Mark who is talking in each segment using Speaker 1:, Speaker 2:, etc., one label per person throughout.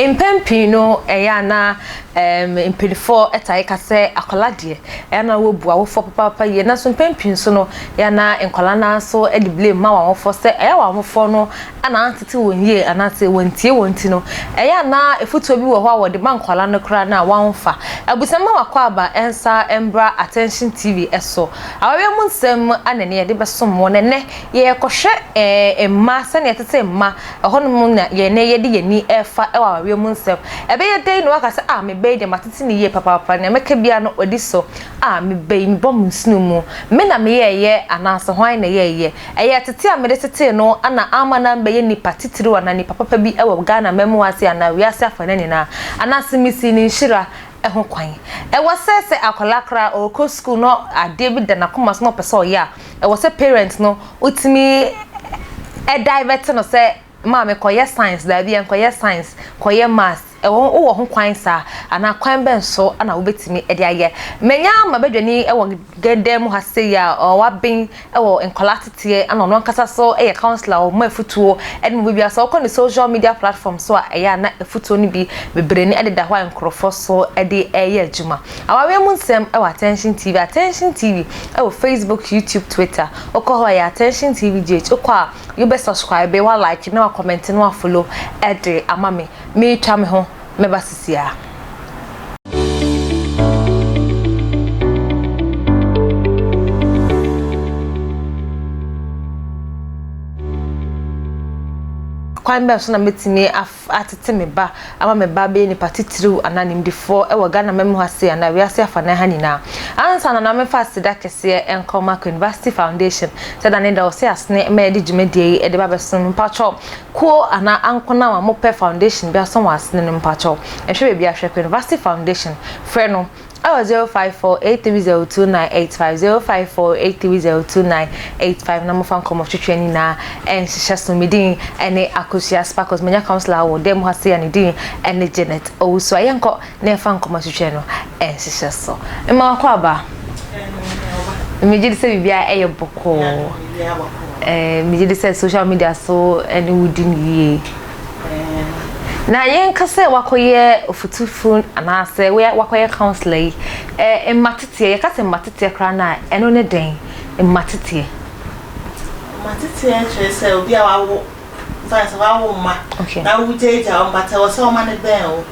Speaker 1: Mpɛn pii no, ɛyɛ a na mpanyinfoɔ tae ka sɛ akwadaa deɛ ɛyɛ na wɔbu awofoɔ papaapa yie nanso mpɛn pii nso no ɛyɛ na nkwadaa no ara nso de blame ma wɔn awofoɔ sɛ ɛyɛ wɔn awofoɔ no a na antete wɔn yie anaasɛ wɔntie wɔn nti no, ɛyɛ a na afotuo bi wɔ hɔ a wɔde ma nkwadaa no koraa no a wɔmfa. Abusua mma w'akwaaba nsa mmra Attention TV so. Awareɛ mu nsɛm na ɛnnɛ yɛde bɛsom wɔn. Ɛnnɛ yɛrekɔhwɛ ɛɛ mma, sɛdeɛ ɛtete mma. Ɛhɔ nom na yɛn nnɛ yɛde yɛn ani refa wɔ awareɛ mu nsɛm. Ɛbɛyɛ dɛn na woaka sɛ, ah, me ba yi deɛ matete no yie papaapa, deɛ mɛka biara no ɔdi so. Ah, me ba yi, mebɔ me nsono mu. Me na meyɛeɛ anaasɛ hwan na ɛyɛeɛ? Ɛyɛ tete a mede tetee no ana amma na mɛyɛ nipa titiriw anaa nipa papa bi wɔ Ghana mmamu ase anaa wiase afanan nyinaa, anaase misii ne nhyira ho kwan? Ɛwɔ sɛ sɛ akwadaa koraa a ɔrekɔ sukuu na adeɛ bi da n'akoma so na ɔpɛ sɛ ɔyɛ a, ɛwɔ sɛ parent no wotumi divert no sɛ Maame, kɔyɛ science, daabi ɛnkɔyɛ science, kɔyɛ maths, ɛwɔ ho wowɔ ho kwan saa anaa kwan bɛn so na wobɛtumi de ayɛ. Manya m'abadwani wɔ dan mu ha sei a waben wɔ nkwadaa ateteɛ na ɔno ankasa nso yɛ counsellor ɔma afutuo ne mu biribiara sɛ wokɔ ne social media platform so a ɛyɛ a na afutuo no bi bebree ne ɛdeda hɔ a nkurɔfoɔ so de ɛyɛ adwuma. Awareɛ mu nsɛm wɔ Attention TV, Attention TV wɔ Facebook, YouTube, Twitter, wokɔ hɔ a ɛyɛ Attention TV GH, wokɔ a You bɛ subscribe, wa like na wa comment na wa follow ɛde ama me. Me twa me ho mɛba sisia. kwan bɛn so na mɛtumi atete me ba ama me ba bɛyɛ nipa titiriw anaa nimdefoɔ wɔ Ghana mmamu ha sei anaa wiase afanan ha nyinaa. Ansa no na memfa aseda kɛseɛ nkɔ Mack University Foundation sɛ da ne da wɔse asene ma yɛde dwumadie yi de ba bɛsom. Mpakyɛw, kuo anaa ankonam a mopɛ foundation bi asom wɔ asene no, mpakyɛw nhwɛ baabi ara, hwɛ Kwuniversity Foundation, frɛ no. ɛwɔ zero five four eight three zero two nine eight five zero five four eight three zero two nine eight five na mofa nkɔmɔ twitwi ani na ɛnhyehyɛ so me din ɛne akosua sparkles manya councilor wɔ dɛm ha se a ne din ɛne janet owusu a yɛnkɔ na yɛfa nkɔmɔ twitwi no ɛnhyehyɛ so mma wakɔ aba megye di sɛ biribiara ɛyɛ bɔkɔɔ ɛɛ megye di sɛ social media so ɛne wodi ne yie Na yɛnka sɛ woakɔyɛ ɔfotufo anaasɛ woakɔyɛ councilor yi, mmateteɛ, yɛka sɛ mmateteɛ koraa no a, ɛno ne dɛn? Mmateteɛ. Mmateteɛ kyerɛ sɛ obi a wawo,
Speaker 2: yɛmfa no sɛ wawo mma na wogyaagyaa wɔn but ɛwɔ sɛ wɔn mma no bɛn wo.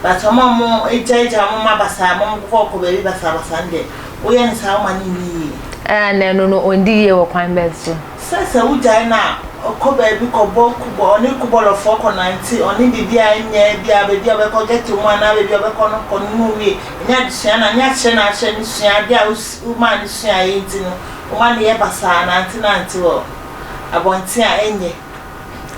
Speaker 2: But ɔmo a ɔmo gya gya ɔmo mma basaa ma ɔmo kɔ kɔ baabi basaa basaa no deɛ woyɛ no saa woma no nni yie. Ɛna na ɛno no
Speaker 1: ɔndi yie wɔ kwan bɛn so? Sɛ sɛ wo gyae
Speaker 2: no a ɔkɔ baabi kɔ bɔ kubɔ ɔne kubɔlɔfoɔ kɔ nante ɔne biribi a ɛnyɛ bi a baabi a ɔbɛkɔ ghetto mu anaa baabi a ɔbɛkɔ no kɔ no na owie ɛnyɛ adesua no a nyɛ akyerɛ no akyerɛ no sua adeɛ a womaa no suaeɛ nti no woma no yɛ basaa nante nante wɔ abɔnten a ɛnyɛ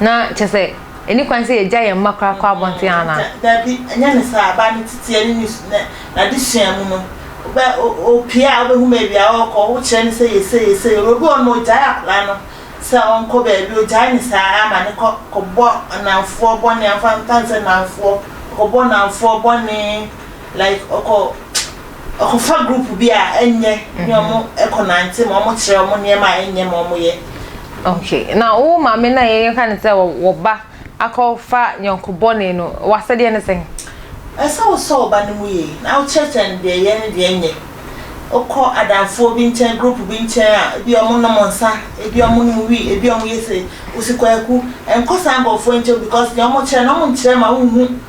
Speaker 2: Na kyerɛ
Speaker 1: sɛ, ɛnni kwan sɛ yɛgya yɛn mma koraa kɔ abɔnten anaa? Dabi, ɛnyɛ ne
Speaker 2: saa. Abaa no titiɛ ne ne n'adesua mu no, wobɛ, opue a, wobɛhu baabi a ɔrekɔ, wokyerɛ no sɛ yɛ sei, yɛ sei. Obi wɔ hɔ nom a, ogyae akwadaa no sɛ ɔnkɔ baabi, ogyae no saa ara ma no kɔ, kɔbɔ nnamfoɔ bɔne, amfa, amfa nsɛ nnamfoɔ, ɔkɔbɔ nnamfoɔ bɔne, Like ɔkɔ ɔkɔ fa group bi a ɛnyɛ ne ɔmo ɛkɔ nante ma ɔmo kyerɛ ɔmo nneɛma a ɛnyɛ ma ɔmo yɛ. Okay na
Speaker 1: wo maame na yɛ yɛka ne sɛ wɔ ba akɔ fa yɔnko bɔne no wasɛdeɛ ne sɛn. Ɛsɛ wo sɔ
Speaker 2: wo ba no mu yie na wo kyerɛ kyerɛ no deɛ yɛ ne deɛ nyɛ wokɔ adamfoɔ bi nkyɛn group bi nkyɛn a ebi a ɔmo nom nsa ebi ɔmo nom wii ebi ɔmo yɛ sei wo si kwaku nkɔ saa nkorɔfoɔ nkyɛn because deɛ ɔmo kyerɛ no ɔmo nkyerɛ ma wo nhu.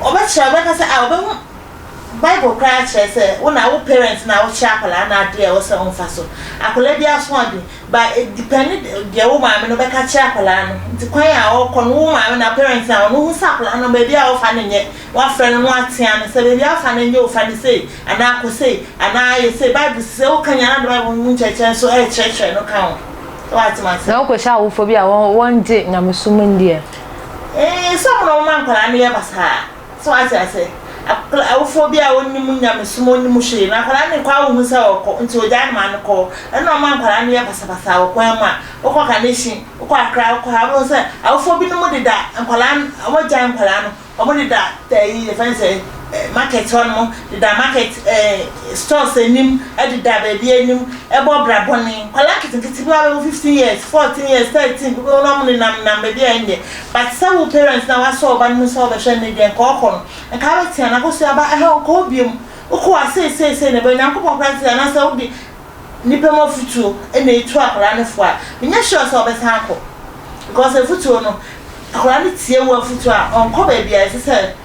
Speaker 2: Ɔbɛkyerɛ ɔbɛka sɛ ah ɔbɛhu Bible koraa akyerɛ sɛ wo na wo parent na wokyerɛ akwadaa no adeɛ a ɛwɔ sɛ ɔmfa so. Akwadaa bi asoɔden ba edipɛne deɛ wo maame no bɛka kyerɛ akwadaa no nti kwan a ɔkɔ no wo maame na parent na ɔno hu sɛ akwadaa no baabi a ɔfa no nyɛ wafrɛ no no atea no sɛ baabi a wofa no nyɛ o fa no sei anaa kɔ sei anaa yɛ sei Bible sɛ wokanyan ade Bible no mu nkyerɛkyerɛ nso ɛrekyerɛkyerɛ no ka ho. Sɛ woatem ase. Na wokɔhyɛ awofo bi a wɔngye nyamesom nni ɛ. Nsɛm na wɔma nkwadaa no yɛ basaa. So wate ase? Akl awofoɔ bi a wɔnnim nyamesom, wɔnnim hwee, na akwadaa no nkɔ a wonhu sɛ ɔrekɔ, nti wɔgyae no ma no kɔ. Ɛno na wɔma nkwadaa no yɛ basabasaa wɔ kwan mu a wokɔ Kanehyi, wokɔ Akra, wokɔ ha, wobɛhu sɛ awofoɔ binom deda nkwadaa no, wɔagyae nkwadaa no, wɔdeda ɛyi, yɛfrɛ no sɛn? market hɔ nom deda market ɛɛ stores anim ɛdeda baabi anim ɛbɔ bra bɔne nkɔla nketenkete bi a bɛwɔ fifteen years fourteen years thirteen bi bɛwɔ na ɔmo nenam nam baabi a ɛnyɛ but sɛ wo parents na wasɔ ɔba no mu sɛ ɔbɛhwɛ ne deɛ nka ɔkɔ no nka abɛtea na kɔsua aba ɛhɛ ɔkɔ obiam wokɔ a sei sei sei na ɛbɛyɛ nyankopɔn koraa sɛ anaasɛ wode nipa mu afutuo ɛna etu akɔla no fo a menyɛ sure sɛ ɔbɛsan akɔ because afutuo no akɔla no tie wo afutuo a ɔnkɔ baabi a ɛsɛ sɛ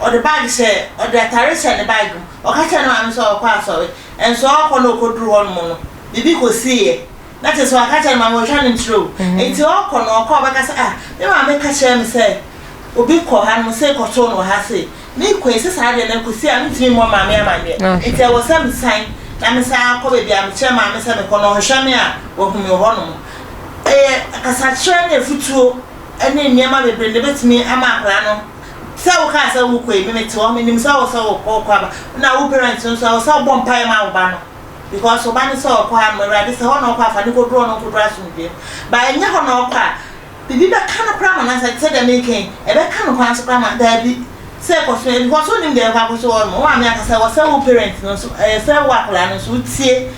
Speaker 2: Ɔde bag hyɛɛ, ɔde atare hyɛɛ ne bag mu. Ɔka kyerɛɛ ne maame sɛ ɔrekɔ asɔre. Nso ɔrekɔ na ɔkɔduruu hɔnom no, biribi kɔsiiɛ. Na kyerɛ sɛ waka kyerɛ ne maame, ɔtwa no nkyerɛ o. Enti ɔrekɔ no, ɔkɔ a ɔbɛka sɛ, ah, me maame ka kyerɛɛ me sɛ obi kɔ hanom sei kɔtoo no wɔ ha sei. Merekɔ yi, sɛ saa deɛ na kɔsi a mentumi mmɔ maame amanneɛ. Enti ɛwɔ sɛ mesan na mesan akɔ baabi a mekyerɛ maame sɛ mekɔ no, ɔhwehwɛ me a, wahu me wɔ hɔnom. Ɛyɛ kasakyerɛ ne afutuo ne nneɛma bebree na ɛbɛtumi ama akwadaa no Sɛ wo kaa sɛ wo kɔ yi me me te hɔ me nim sɛ wo sɛ wo kɔ wo kɔ aba na wo parents no nso ɛwɔ sɛ wo bɔ mpaeɛ ma wo ba no because wo ba no sɛ ɔkɔ ha nom awurade sɛ hɔ na ɔkɔ afa ne kɔ duro no nkɔ duro asomdwem ba ɛnyɛ hɔ na ɔkɔ a bibi bɛ ka no kora ma nansa sɛ dɛ me kɛn ɛbɛ ka no kwan so kora ma daabi sɛ kɔ so because wo nim deɛ ɛkɔ akɔ so wɔ nom wo maame akasa ɛwɔ sɛ wo parents no nso ɛyɛ sɛ wo akɔla no nso wo tie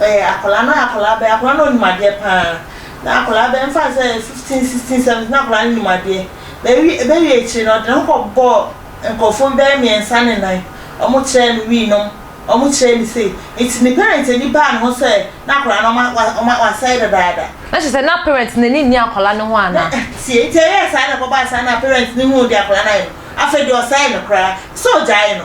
Speaker 2: Ɔyɛ akwadaa no ɔyɛ akwadaa bɛyɛ akwadaa no ɔnim adeɛ paa na akwadaa bɛyɛ nfa sɛ fifteen sixteen seventeen na akwadaa no nim adeɛ bɛwi ɛbɛwi akyire no ɔde ne ho kɔ bɔ nkurɔfoɔ bɛyɛ mmiɛnsa ne nan wɔn kyerɛ no wii nom wɔn kyerɛ no sei nti ne parent ani baa ne ho sɛ na akwadaa no ɔma ɔma wasɛe dadaada. Na kyerɛ sɛ na parent no ani nni akwadaa no ho ana. Tie nti ɛyɛɛ saa na ɛkɔbaa saa na parent no huu deɛ akwadaa no ayɛ no afei deɛ ɔsɛe no koraa sɛ ɔgyae no.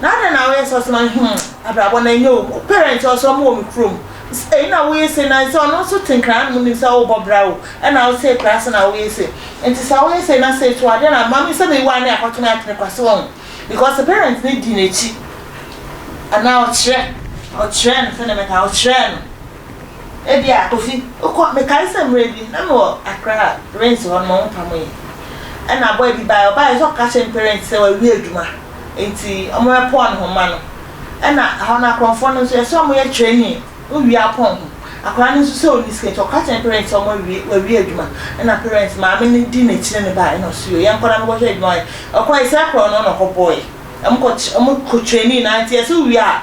Speaker 2: na adɛn na woyɛ sɛ ɔsoma hmm abrabɔ na ɛnyɛ o parent ɔsɛ ɔmo wɔ me kurom ɛyi na woyɛ se na sɛ ɔno nso te nkran no mu nim sɛ wobɔ bra o ɛna wo se kora se na woyɛ se nti sɛ woyɛ se na se to adeɛ na mami sɛ mewa ne akɔto me atene kwa se wɔn because parent ne di n'akyi anaa ɔkyerɛ ɔkyerɛ no sɛdeɛ mɛka ɔkyerɛ no ebi a kofi okɔ mekae sɛ mmerɛ bi na mewɔ akra rent hɔ no ma wo mpamoyɛ ɛna abɔ ebi bae ɔbae sɛ ɔka kyerɛ ne parent sɛ wawie adwuma Ntsi ɔmo yɛ pɔn ho ma no. Nna hɔn no akorɔmfoɔ no so yɛ sɛ ɔmo yɛ training wo wie a pɔn ho. Akɔraa no so sɛ onni sika ntsi ɔka kyerɛ parents sɛ ɔmo awie oewie edwuma nna parents maame no di n'ekyir no bae nna ɔse yo yɛnkɔ na menkɔhwɛ edwuma ɔyɛ. Ɔkɔe sɛ krɔn no na ɔkɔ bɔɔe. Ɔmo kɔ ɔmo kɔ training no ara ntsi yɛ sɛ wo wie a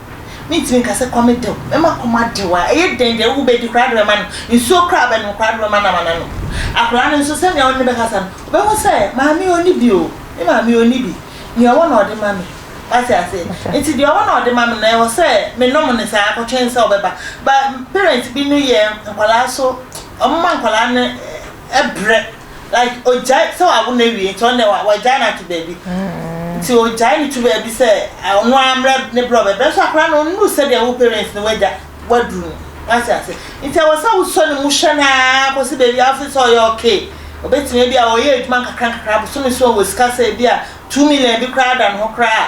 Speaker 2: Mentumi nka sɛ kɔm dew me ma kɔm adew a ɛyɛ dɛn deɛ wo bɛdi koraa de bɛma no nsuo koraa bɛnom koraa de bɛma no ama no anom akwadaa no nso sɛnea wo ne no bɛkasa no wobɛhu sɛ maame ɔni bi o me maame ɔni bi nea ɔwɔ na ɔde ma me wate ase nti deɛ ɔwɔ na ɔde ma me no ɛwɔ sɛ menom no saa kɔtwɛn sɛ ɔbɛba ba parent bi no yɛ nkwadaa so ɔmoma nkwadaa no ɛbrɛ like ogyae sɛ wawo no awie nti ɔno deɛ wa- wagyae no ato baabi nti ogyae no to baabi sɛ ah, ɔno ara mmerɛ ne berɛ a ɔbɛbrɛ nso akora no ɔnnu sɛdeɛ wo parents no wagya waduru no wate ase nti ɛwɔ sɛ wosɔ ne mu hwɛ no ara kɔsi baabi a wose sɛ ɔyɛ okay ɔbɛtumi bi a ɔyɛ adwuma nkakra nkakra bosome so a ɔwɔ sika sɛ bi a two million bi koraa da ne ho koraa a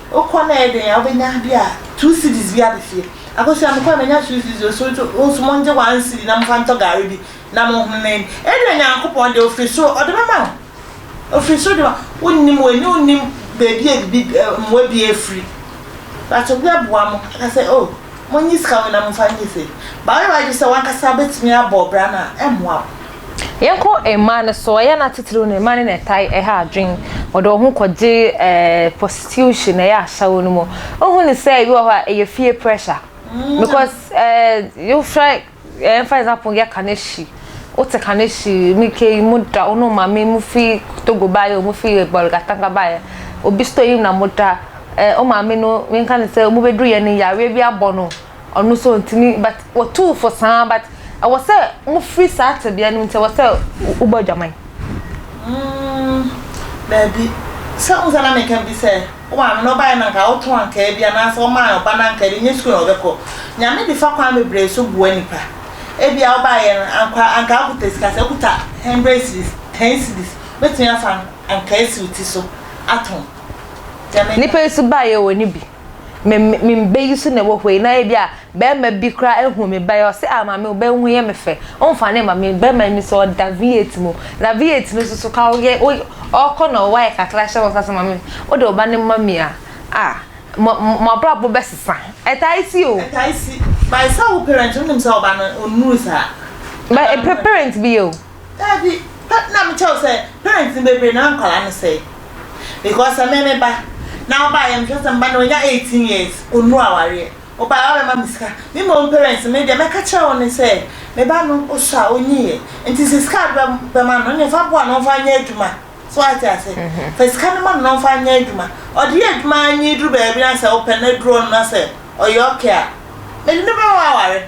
Speaker 2: Wokɔ na ɛyɛ den a wobɛnya bi a two cedis bi aba fie. Akosua mekɔɛ manya two cedis o so to wonso mongye one cedi na momfa ntɔ gari bi na monhono na ɛni. Ɛnna Nyankopɔn deɛ ofiri soro ɔde bɛma wo. Ofiri soro de ma wonnim wei ne wonnim baabi a ebi mmoa bi afiri. But obi aboa mo aka sɛ oh monyi sika wei na momfa nyɛ sei. But woyɛ w'adwene sɛ wankasa wobɛtumi abɔ bra no a ɛmmoa wo. Yɛnkɔ
Speaker 1: mmaa no so, ɛyɛ a na titiriw no mmaa no na ɛtae ɛha adwene, wɔde wɔn ho kɔgye ɛɛ prostitution ɛyɛ asawo no mu. Wohu ne sɛ ebi wɔ hɔ a ɛyɛ fie pressure mm. because ɛɛ eh, yofrɛ ɛɛ eh, for example yɛ kaneshi, wote kaneshi mi ke mu da ɔno maame mu fi togo baayɛ ɔmo fi bɔlgatanga baayɛ obi store yi na mo da ɛɛ eh, ɔmaame no menka ne sɛ ɔmo bɛduru yɛ ne yareɛ bi abɔ no. Ɔno nso ɔntumi but wɔtuu fo saa but ɛwɔ sɛ mofiri saa tebea no mu nti ɛwɔ sɛ wobɔ adwaman. Mm,
Speaker 2: daabi. Sɛ wo sɛ na meka bi sɛ wo maame no ɔbaeɛ no anka wotɔn ankaa bi anaasɛ ɔmaa ɔba no ankaa bi ɛnyɛ sukuu na ɔbɛkɔ. Nyame de fa kwan bebree so boa nnipa. Ebia wobaeɛ no anka anka wokuta sika sɛ wokuta hundred cedis, ten cedis wobɛtumi afa ankaa asi wo
Speaker 1: ti so
Speaker 2: atɔn.
Speaker 1: Deɛ
Speaker 2: meka. Nnipa
Speaker 1: yi nso
Speaker 2: baeɛ
Speaker 1: wɔnni bi. me me me mba yi so na ɛwɔ hɔ yi na ebi a bɛrima bi koraa ehu me ba yi ɔse ah maame wo ba yi ho yɛ me fɛ ɔnfa ne ma me bɛrima yi me sɛ ɔda V8 mu na V8 no nso so ka ɔyɛ ɔkɔ na ɔwɔ ayɛ kakra hyɛ hɔ sase maame wo de wo ba no ma me a ah mo mo abrabɔ bɛsesa ɛtae si o. ɛtae si by sɛ wo
Speaker 2: parent wonim sɛ ɔba no ɔnnuru saa. bɛ
Speaker 1: parent bi yɛ o. Daabi, pɛ
Speaker 2: na mekyɛ wo sɛ parents no bebree na nkwadaa no sɛe because sɛ me me ba na ɔbaa yɛ mehwɛ sɛ me ba no wanya eighteen years ɔnnu awareɛ ɔbaa wabɛma me sika me mmom parents me deɛ mɛka kyerɛ wo ne sɛ me ba no ɔsɔ a ɔnyiiɛ nti sɛ sika ade bɛma no ne fa boa no mfa nyɛ adwuma so ate ase mhm. fa sika no ma no mfa nyɛ adwuma ɔde yɛ adwuma nyi duru baabi na sɛ wopɛ no aduru ɔno na sɛ ɔyɛ ɔkɛ a mede ne bɛma aware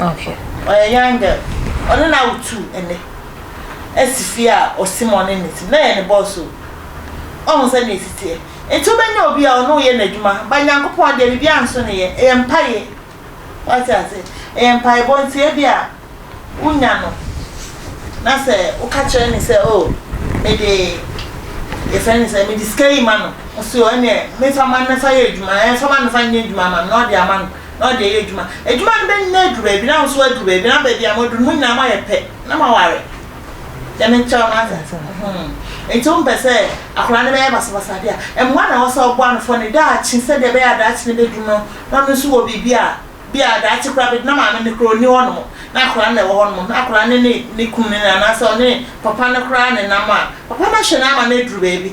Speaker 2: Okay. Ɔyɛ
Speaker 1: young girl.
Speaker 2: Ɔno na wotu ɛnɛ asi fie a ɔse ma ɔne ne te. Na ɛyɛ ne boss o. Ɔhu sɛ nea ɛsi teɛ. Nti wobɛnya obi a ɔne wo yɛ n'adwuma. Ba Nyankopɔn deɛ biribiara nso ne yɛ. Ɛyɛ mpaeɛ. Wate ase? Ɛyɛ mpaebɔ nti ebi a wonya no na sɛ woka kyerɛ ne sɛ oh mede yɛfrɛ ne sɛ mede sika yi ma no. Ɔse oh ɛneɛ memfa ma no mfa yɛ adwuma. Ɛɛ fa ma no fa nyɛ adwuma ma me na ɔde ama no. na ɔde ayɛ adwuma. Adwuma no bɛnyina aduru baabi, na wo nso aduru baabi, na baabi a moaduru no, mo nyinaa moayɛ pɛ, na moaware. Deɛ mekyerɛ wo no ate ase. Nti wompɛ sɛ akwadaa no bɛyɛ basabasa adeɛ a, mmoa na ɛwɔ sɛ woboa no fɔ ne daakye sɛdeɛ ɛbɛyɛ a daakye no bɛduru no, na ɔno nso wɔ biribi a bi a daakye koraa bɛduru na maame no koraa ɔnni hɔnom, na akwadaa no na ɛwɔ hɔnom, na akwadaa no ne ne kunu no anaasɛ ɔne papa no koraa nenam a, papa no ahwɛ no ama no aduru baabi.